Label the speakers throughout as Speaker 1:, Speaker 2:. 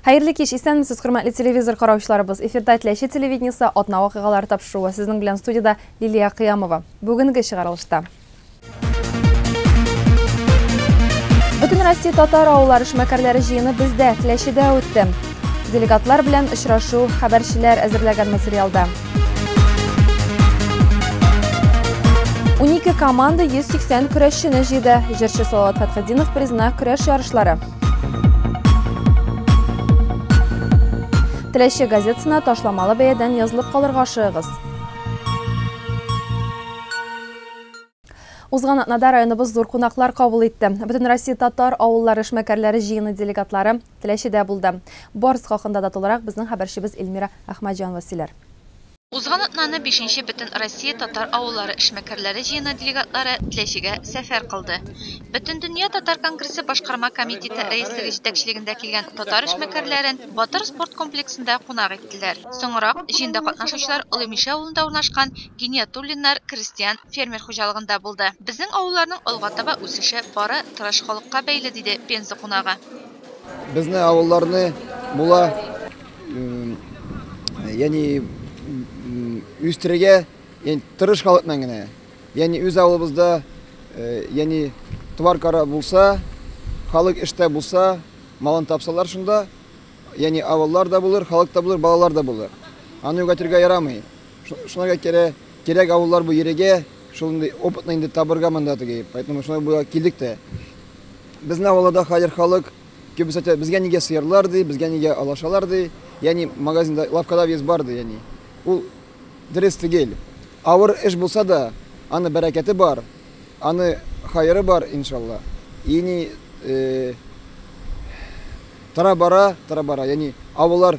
Speaker 1: Хәерле кич, исәнмесез, хөрмәтле телевизор караучыларыбыз. Эфирда Теләче телевидениесе атна вакыйгалары тапшыруы. Сезнең белән студиядә Лилия Кыямова. Бүгенге чыгарылышта. Бөтенроссия татар авыллар эшмәкәрләре җыены бездә, Теләчедә үтте. Делегатлар белән очрашу, хәбәрчеләр әзерләгән материалда. 12 команда 180 көрәшчене җыйды. Җырчы Салават Фәтхетдинов призына көрәш ярышлары. Теләче газетасына ташламалы бәядән язылып калырга ашыгыгыз. Узган атнада районыбыз зур кунаклар кабул итте. Бөтен Россия татар авыллар эшмәкәрләре җыены делегатлары Теләчедә булды. Барс хакында да тулырак безнең хәбәрчебез Эльмира Әхмәҗанова сөйләр. Узган
Speaker 2: атнаны бишенче Бөтенроссия татар авыллары эшмәкәрләре җыены делегатлары Теләчегә сәфәр кылды. Бөтендөнья татар конгрессы башкарма комитеты рәислеге җитәкчелегендә килгән татар эшмәкәрләрен Батыр спорт комплексында кунак иттеләр. Соңрак җыенда катнашучылар Олы Мишә авылында урнашкан Гиниятуллиннар крестьян-фермер хуҗалыгында булды. Безнең авылларның алга таба үсеше бары тырыш халыкка бәйле, диде Пенза кунагы. Безне
Speaker 3: авылларны була яни үстерергә яни тырыш халыкның генә. Яни үз авылыбызда яни товар кара булса, халык эштә булса, малын тапсалар шунда, яни авыллар да булыр, халык та булыр, балалар да булыр. Аны югәтергә ярамый. Шуңа кирәк, кирәк авыллар бу йөрегә, шундый опытны инде табырга монда теге. Поэтому шуңа була килдек тә. Безнең авылда да хәзер халык күбесе әйтә, безгә нигә сыерлар ди, безгә нигә алашалар ди, ягъни магазинда, лавкада вес бар ди, ягъни. Ул дөрес түгел. Авыр эш булса да, аны бәрәкәте бар, аны хәере бар, иншалла. Ини тора-бара, тора-бара, ягъни авыллар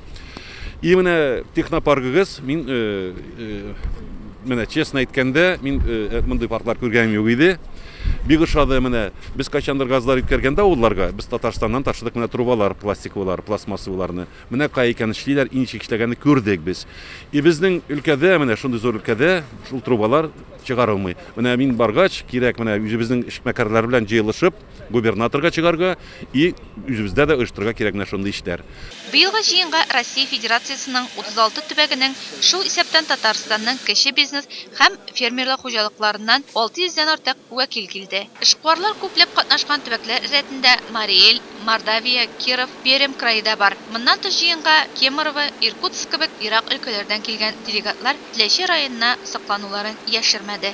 Speaker 4: И менә технопаргыгыз, мин менә честно әйткәндә, мин мондый парклар күргәнем юк иде. Бик ошады менә. Без кайчандыр газлар үткәргәндә авылларга, без Татарстаннан ташыдык менә трубалар, пластиковылар, пластмассовыларны. Менә кая икән эшлиләр, и ничек эшләгәнне күрдек без. И безнең өлкәдә, менә шундый зур өлкәдә шул трубалар чыгарылмый. Менә мин баргач, кирәк менә үзебезнең эшмәкәрләр белән җыелышып, губернаторга чыгарга и үзебездә дә оештырырга кирәк менә шундый эшләр. Быелгы җыенга
Speaker 2: Россия Федерациясенең 36 төбәгенең, шул исәптән Татарстанның кече бизнес һәм фермерлык хуҗалыкларыннан 600 дән артык вәкил килде. Эшкуарлар күпләп катнашкан төбәкләр рәтендә Марий Эл, Мордовия, Киров, Пермь крае да бар. Моннан тыш җыенга Кемерово, Иркутск кебек ерак өлкәләрдән килгән делегатлар Теләче районына соклануларын яшермәде.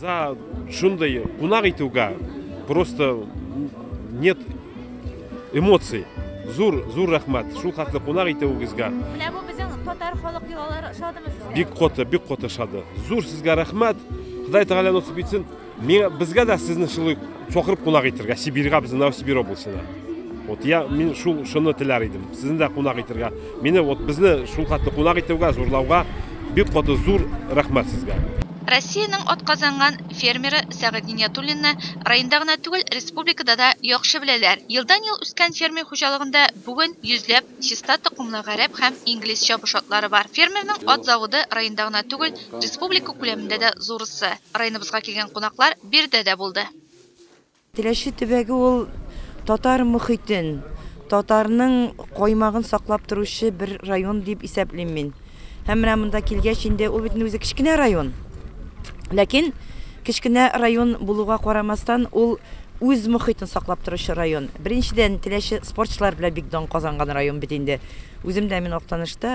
Speaker 5: За
Speaker 6: шундый кунак итүгә просто нет эмоций. Зур, зур рәхмәт. Шул хәтле кунак итүегезгә. Менә бу безнең
Speaker 2: татар халык йолалары шадымы сезгә? Бик коты, бик коты шады.
Speaker 6: Зур сезгә рәхмәт. Ходай Тәгалә насыйп итсен. Миңа безгә дә сезне шулай Чакырып кунак итергә Сибирьга безнең Новосибирь областена. Вот я мин шул шуны теләр идем. Сезне дә кунак итергә. Мине вот безне шул хатны кунак итүгә, зурлауга бик каты зур рәхмәт сезгә. Россиянең
Speaker 2: атказанган фермеры Сәгыйть Гыйниятуллинны районда гына түгел, республикада да яхшы беләләр. Елдан-ел үскән фермер хуҗалыгында бүген йөзләп чиста токымлы гарәп һәм инглиз чабыш атлары бар. Фермерның ат заводы районда гына түгел, республика күләмендә дә зурысы. Районыбызга килгән кунаклар биредә дә булды. Теләче
Speaker 7: төбәге ул татар мохитен, татарның каймагын саклап торучы бер район дип исәплим мин. Һәм менә монда килгәч инде, ул бит үзе кечкенә район. Ләкин кечкенә район булуга карамастан, ул үз мохитен саклап торучы район. Беренчедән, Теләче спортчылар белән бик дан казанган район бит инде. Үзем дә мин Актанышта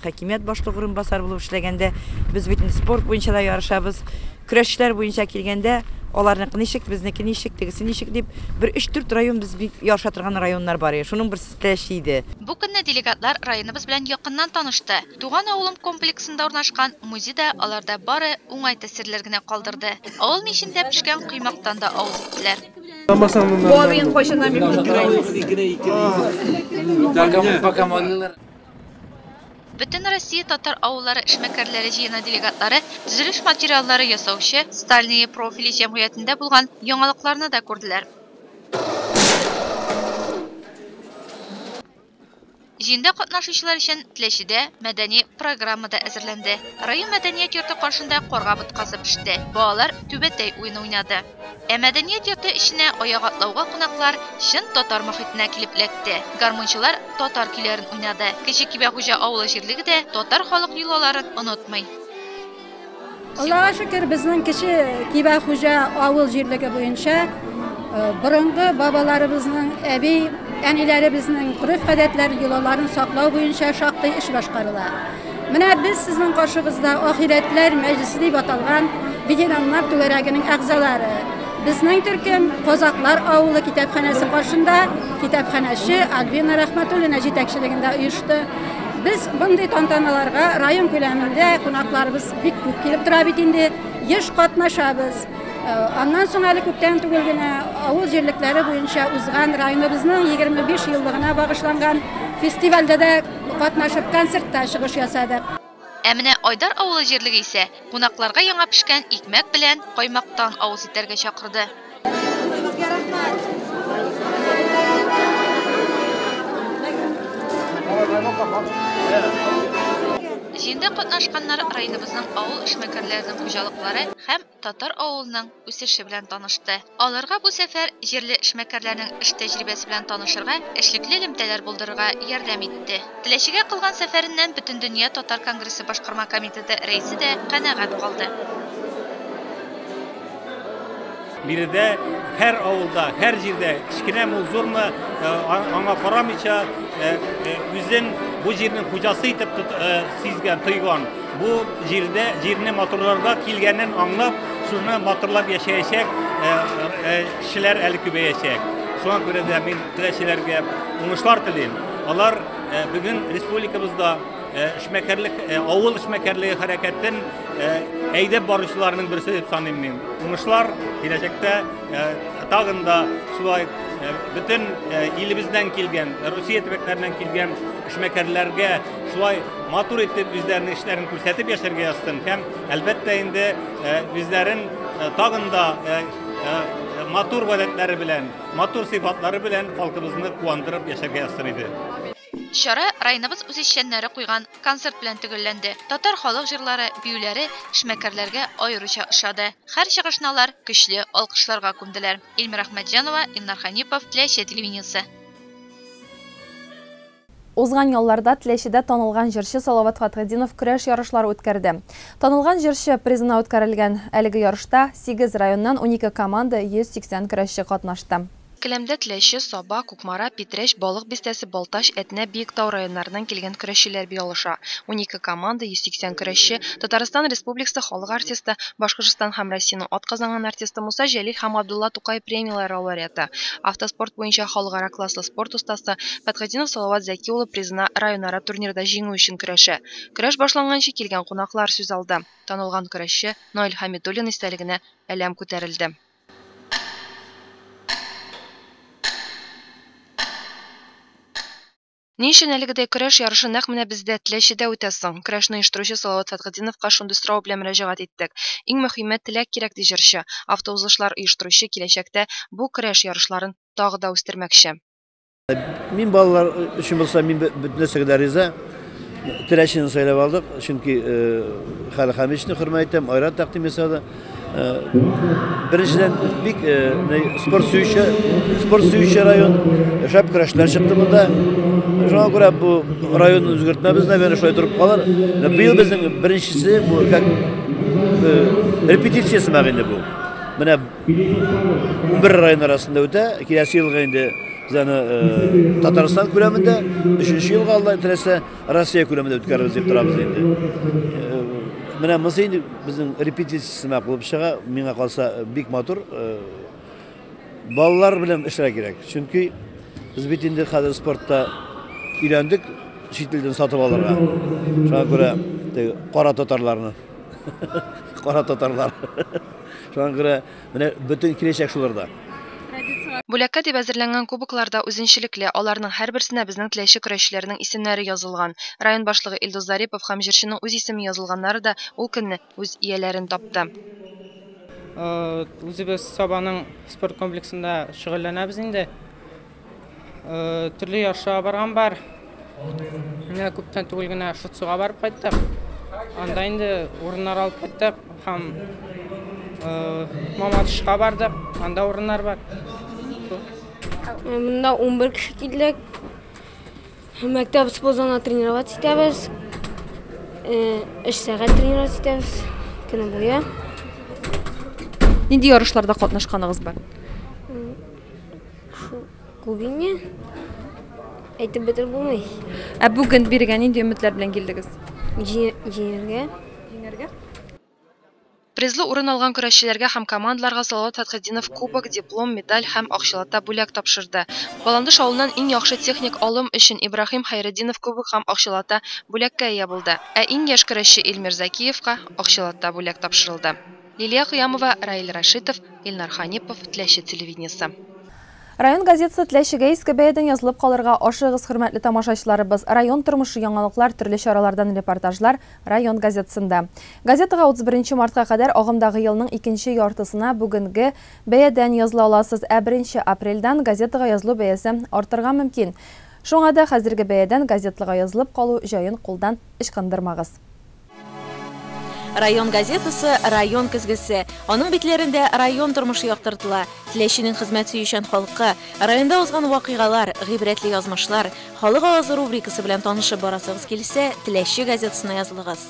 Speaker 7: хакимият башлыгы урынбасары булып эшләгәндә, без бит спорт буенча да ярышабыз. Көрәшчеләр буенча килгәндә, аларныкы ничек, безнеке ничек, тегесе ничек дип, бер 3-4 район без бик ярыша торган районнар бар иде. Шуның берсе Теләче иде. Бу көнне делегатлар
Speaker 2: районыбыз белән якыннан танышты. Туган авылым комплексында урнашкан музей да аларда бары уңай тәэсирләр генә калдырды. Авыл мичендә пешкән коймактан да авыз иттеләр. Бабин кайчаннан бик күтәрә. Бөтен Россия татар авыллары эшмәкәрләре җыены делегатлары төзелеш материаллары ясаучы Стальные профили җәмгыятендә булган яңалыкларны да күрделәр. Җыенда катнашучылар өчен Теләчедә мәдәни программа да әзерләнде. Район мәдәният йорты каршында карга боткасы пеште, балалар түбәтәй уены уйнады. Ә мәдәният йорты эченә аяк атлауга кунаклар чын татар мохитенә килеп эләкте. Гармунчылар татар көйләрен уйнады. Кече Кибәхуҗа авылы җирлеге дә татар халык йолаларын онытмый.
Speaker 8: Аллага шөкер, безнең кече Кибә хуҗа авыл җирлеге буенча э, борынгы бабаларыбызның, әби, әниләребезнең гореф-гадәтләрен, йолаларын саклау буенча шактый эш башкарыла. Менә без сезнең каршыгызда ахирәтләр мәҗлесе дип аталган ветераннар түгәрәгенең әгъзалары. Безнең төркем Казаклар авылы китапханәсе каршында китапханәче Альбина Рәхмәтуллина җитәкчелегендә оешты. Без мондый тантаналарга район күләмендә кунакларыбыз бик күп килеп тора бит инде, еш катнашабыз. Э, аннан соң әле күптән түгел генә авыл җирлекләре буенча узган районыбызның 25 еллыгына багышланган фестивальдә дә катнашып, концертта чыгыш ясадык. Ә менә
Speaker 2: Айдар авылы җирлеге исә Кунакларга яңа пешкән икмәк белән каймактан авыз итәргә чакырды. Үзегезгә рәхмәт. Җыенда катнашканнар районыбызның авыл эшмәкәрләренең хуҗалыклары һәм татар авылының үсеше белән танышты. Аларга бу сәфәр җирле эшмәкәрләрнең эш тәҗрибәсе белән танышырга, эшлекле элемтәләр булдырырга ярдәм итте. Теләчегә кылган сәфәреннән Бөтендөнья татар конгрессы башкарма комитеты рәисе дә канәгать калды.
Speaker 5: Биредә һәр авылда, һәр җирдә, кечкенәме ул, зурмы, аңа карамыйча, үзен бу җирнең хуҗасы итеп сизгән, тойган, Бу җирдә җирне матурларга килгәнен аңлап, шуны матурлап яшәячәк э, э, кешеләр әле күбәячәк. Шуңа күрә дә мин теләчеләргә уңышлар телим. Алар э, бүген республикабызда эшмәкәрлек авыл эшмәкәрлеге хәрәкәтен әйдәп баручыларның берсе дип саныйм мин. Уңышлар киләчәктә тагын да шулай бөтен илебездән килгән, Россия төбәкләреннән килгән эшмәкәрләргә Шулай матур итеп үзләренең эшләрен күрсәтеп яшәргә язсын һәм әлбәттә инде үзләрен тагын да матур гадәтләре белән, матур сыйфатлары белән халкыбызны куандырып яшәргә язсын иде. Чара
Speaker 2: районыбыз үзешчәннәре куйган концерт белән төгәлләнде. Татар халык җырлары, биюләре эшмәкәрләргә аеруча ошады. Хәр чыгышны алар көчле алкышларга күмделәр. Ильмира Әхмәтҗанова, Илнар Хәнипов, Теләче телевидениесе.
Speaker 1: Узган ялларда Теләчедә танылган җырчы Салават Фатхетдинов көрәш ярышлары үткәрде. Танылган җырчы призына үткәрелгән әлеге ярышта сигез районнан унике команда, 180 көрәшче катнашты. Келәмдә Теләче,
Speaker 2: Саба, Кукмара, Питрәч, Балык Бистәсе, Балтач, Әтнә, Биектау районнарыннан килгән көрәшчеләр бии алыша. Унике команда, 180 көрәшче, Татарстан Республикасы халык артисты, Башкортстан һәм Россиянең атказанган артисты Муса Җәлил һәм Габдулла Тукай премияләре лауреаты, автоспорт буенча халыкара класслы спорт остасы Фәтхетдинов Салават Зәки улы призына районара турнирда җиңү өчен көрәшә. Көрәш башланганчы килгән кунаклар сүз алды, танылган көрәшче Наил Хәмидуллин истәлегенә әләм күтәрелде. Ни өчен әлегедәй көрәш ярышы нәкъ менә бездә, Теләчедә үтә соң? Көрәшне оештыручы Салават Фәтхетдиновка шундый сорау белән мөрәҗәгать иттек. Иң мөхиме, теләк кирәк, ди җырчы. Автоузышлар оештыручы киләчәктә бу көрәш ярышларын тагы да үстермәкче.
Speaker 9: Мин балалар өчен булса, мин бөтен нәрсәгә дә риза. Теләчене сайлап алдык, чөнки Хәлхәмичне хөрмәт итәм, Айрат тәкъдим ясады. Беренчедән бик спорт сөюче, спорт сөюче район, шәп көрәшләр чыкты монда. Шуңа күрә бу район үзгәртмәбез, наверное, шулай торып калыр. Быел безнең беренчесе бу как репетиция сымак инде бу. Менә бер район арасында үтә, киләсе елга инде Татарстан күләмендә, өченче елга Алла теләсә, Россия күләмендә үткәрербез дип торабыз инде. Э, менә монысы инде безнең репетиция сымак булып чыга. Миңа калса э, бик матур. Э, балалар белән эшләр кирәк. Чөнки без бит инде хәзер спортта өйләндек, чит илдән сатып алырга. Шуңа күрә кара татарларны. Кара татарлар. Шуңа күрә Менә бөтен киләчәк шуларда.
Speaker 2: Бүләккә дип әзерләнгән кубоклар да үзенчәлекле, аларның һәрберсенә безнең теләче көрәшчеләрнең исемнәре язылган. Район башлыгы Илдус Зарипов һәм җырчының үз исеме язылганнары да ул көнне үз ияләрен тапты.
Speaker 10: Үзебез Сабаның спорт комплексында шөгыльләнәбез инде. Төрле ярышларга барган бар. Менә күптән түгел генә Шуцуга барып кайттык. Анда инде урыннар алып кайттык һәм Мамадышка бардык. Анда урыннар бар.
Speaker 11: Монда 11 кеше килдек. Мәктәп спорт залына тренировать итәбез. Эш сәгать тренировать итәбез. Көне буе.
Speaker 1: Нинди ярышларда катнашканыгыз бар?
Speaker 11: Күбине әйтеп бетереп булмый. Ә бүген биргән
Speaker 1: нинди өметләр белән килдегез? Җиңәргә. Җиңәргә?
Speaker 2: Призлы урын алган көрәшчеләргә һәм командаларга Салават Фәтхетдинов кубок, диплом, медаль һәм акчалата бүләк тапшырды. Баландыш авылыннан иң яхшы техник алым өчен Ибраһим Хәйретдинов кубок һәм акчалата бүләккә ия булды. Ә иң яшь көрәшче Илмир Закиевка акчалата бүләк тапшырылды. Лилия Кыямова, Раил Рашитов, Илнар Ханипов, Теләче телевидениесе. Район
Speaker 1: газетасы Теләчегә иске бәядән язылып калырга ашыгыгыз, хөрмәтле тамашачыларыбыз! Район тормышы, яңалыклар, төрле чаралардан репортажлар Район газетасында. Газетага 31 мартка кадәр агымдагы елның икенче яртысына бүгенге бәядән языла аласыз, ә 1 апрельдән газетага язылу бәясе артырга мөмкин. Шуңа да хәзерге бәядән газетага язылып калу җаен кулдан ычкындырмагыз.
Speaker 12: Район газетасы Район көзгесе. Аның битләрендә район тормышы яктыртыла. Теләченең хезмәт сөючән халкы, районда узган вакыйгалар, гыйбрәтле язмышлар, халык авазы рубрикасы белән танышып барасыгыз килсә, Теләче газетасына язылыгыз.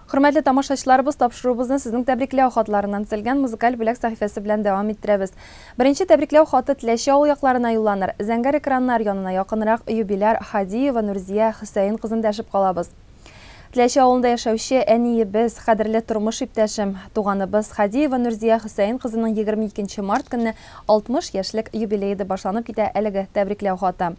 Speaker 1: Хөрмәтле тамашачыларыбыз, тапшыруыбызны сезнең тәбрикләү хатларыннан төзелгән музыкаль бүләк сәхифәсе белән дәвам иттерәбез. Беренче тәбрикләү хаты Теләче авыл якларына юлланыр. Зәңгәр экраннар янына якынрак юбиляр Һадиева Нурзия Хөсәен кызын дәшеп калабыз. Теләче авылында яшәүче әниебез, кадерле тормыш иптәшем, туганыбыз Һадиева Нурзия Хөсәен кызының егерме икенче март көнне 60 яшьлек юбилее ди башланып китә әлеге тәбрикләү хаты.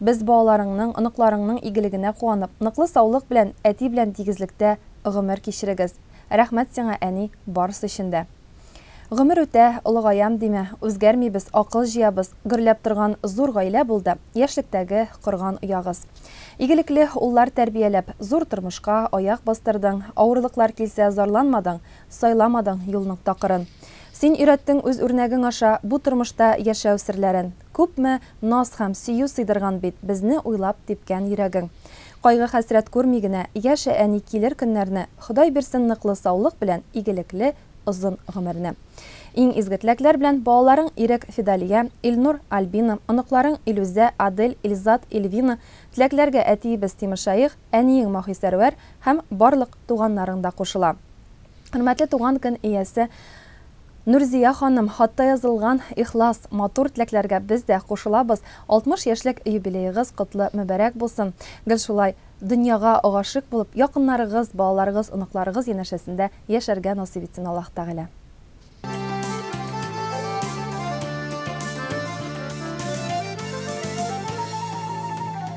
Speaker 1: Без балаларыңның, оныкларыңның игелегенә куанып, ныклы саулык белән, әти белән тигезлектә гомер кичерегез. Рәхмәт сиңа, әни, барысы өчен дә. Гомер үтә, олыгаям димә, үзгәрмибез, акыл җыябыз, гөрләп торган зур гаилә булды, яшьлектәге корган оягыз. Игелекле уллар тәрбияләп, зур тормышка аяк бастырдың, авырлыклар килсә, зарланмадың, сайламадың юлның такырын. Син өйрәттең үз үрнәгең аша бу тормышта яшәү серләрен. Күпме наз һәм сөю сыйдырган бит Безне уйлап типкән йөрәгең. Кайгы-хәсрәт күрми генә Яшә, әни, килер көннәрне, Ходай бирсен ныклы саулык белән Игелекле озын гомерне. Иң изге теләкләр белән балаларың Ирек, Фидалия, Илнур, Альбина, оныкларың Илүзә, Адель, Илзат, Ильвина, теләкләргә әтиебез Тимершаих, әниең Маһисәрвәр һәм барлык туганнарың да кушыла. Хөрмәтле туган көн иясе! Нурзия ханым, хатта язылган ихлас, матур теләкләргә без дә кушылабыз, 60 яшьлек юбилеегыз котлы мөбарәк булсын. Гел шулай дөньяга гашыйк булып, якыннарыгыз, балаларыгыз, оныкларыгыз янәшәсендә яшәргә насыйп итсен Аллаһ Тәгалә.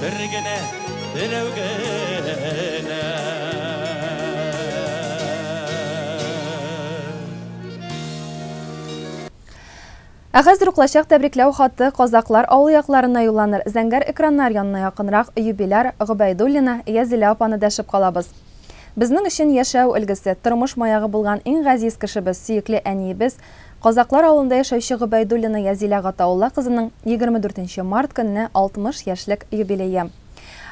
Speaker 13: Бер генә, берәү генә.
Speaker 1: Ә хәзер уклачак тәбрикләү хаты Казаклар авыл якларына юлланыр. Зәңгәр экраннар янына якынрак юбиляр Гобәйдуллина Язилә апаны дәшеп калабыз. Безнең өчен яшәү өлгесе, тормыш маягы булган иң газиз кешебез, сөекле әниебез, Казаклар авылында яшәүче Гобәйдуллина Язилә Гатаулла кызының егерме дүртенче март көнне 60 яшьлек юбилее.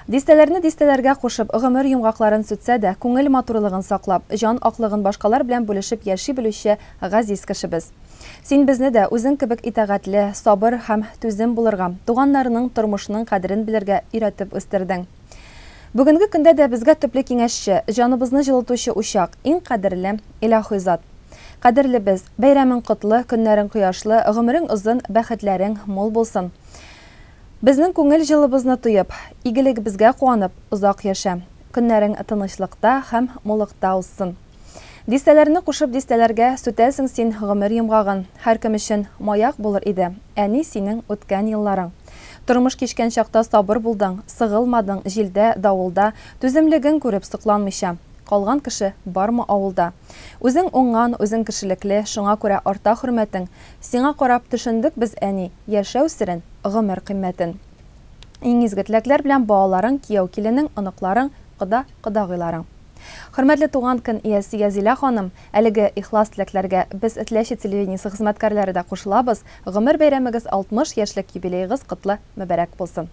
Speaker 1: Дистәләрне дистәләргә кушып, гомер йомгакларын сүтсә дә, күңел матурлыгын саклап, җан аклыгын башкалар белән бүлешеп яши белүче газиз кешебез. Син безне дә үзең кебек итагатьле, сабыр һәм түзем булырга, туганнарның, тормышның кадерен белергә өйрәтеп үстердең. Бүгенге көндә дә безгә төпле киңәшче, җаныбызны җылытучы учак, иң кадерле, илаһи зат. Кадерлебез, бәйрәмең котлы, көннәрең кояшлы, гомерең озын, бәхетләрең мул булсын. Безнең күңел җылыбызны тоеп, игелегебезгә куанып, озак яшә. Көннәрең тынычлыкта һәм мулыкта узсын. Дистәләрне кушып дистәләргә Сүтәсең син гомер йомгагын. Һәркем өчен маяк булыр иде Әни, синең үткән елларың. Тормыш кичкән чакта сабыр булдың, Сыгылмадың җилдә, давылда, Түземлеген күреп сокланмыйча. Калган кеше бармы авылда? Үзең уңган, үзең кешелекле, Шуңа күрә арта хөрмәтең. Сиңа карап төшендек без, әни, Яшәү серен, гомер кыйммәтен. Иң изге теләкләр белән балаларың, кияү-киленең, оныкларың, кода, кодагыйларың. Хөрмәтле туган көн иясе Язилә ханым, әлеге ихлас теләкләргә без Этләче телевидениесе хезмәткәрләре дә кушылабыз, гомер бәйрәмегез 60 яшьлек юбилеегыз котлы мөбәрәк булсын!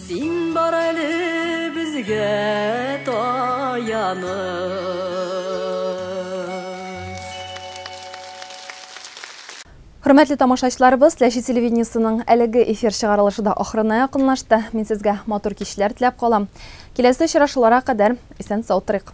Speaker 14: Син бар әле безгә таяныч.
Speaker 1: Хөрмәтле тамашачыларыбыз, Ләчи телевидениесының әлеге эфир чыгарылышы да ахырына якынлашты. Мин сезгә матур кичләр теләп калам. Киләсе очрашулара кадәр исән-сау торыйк.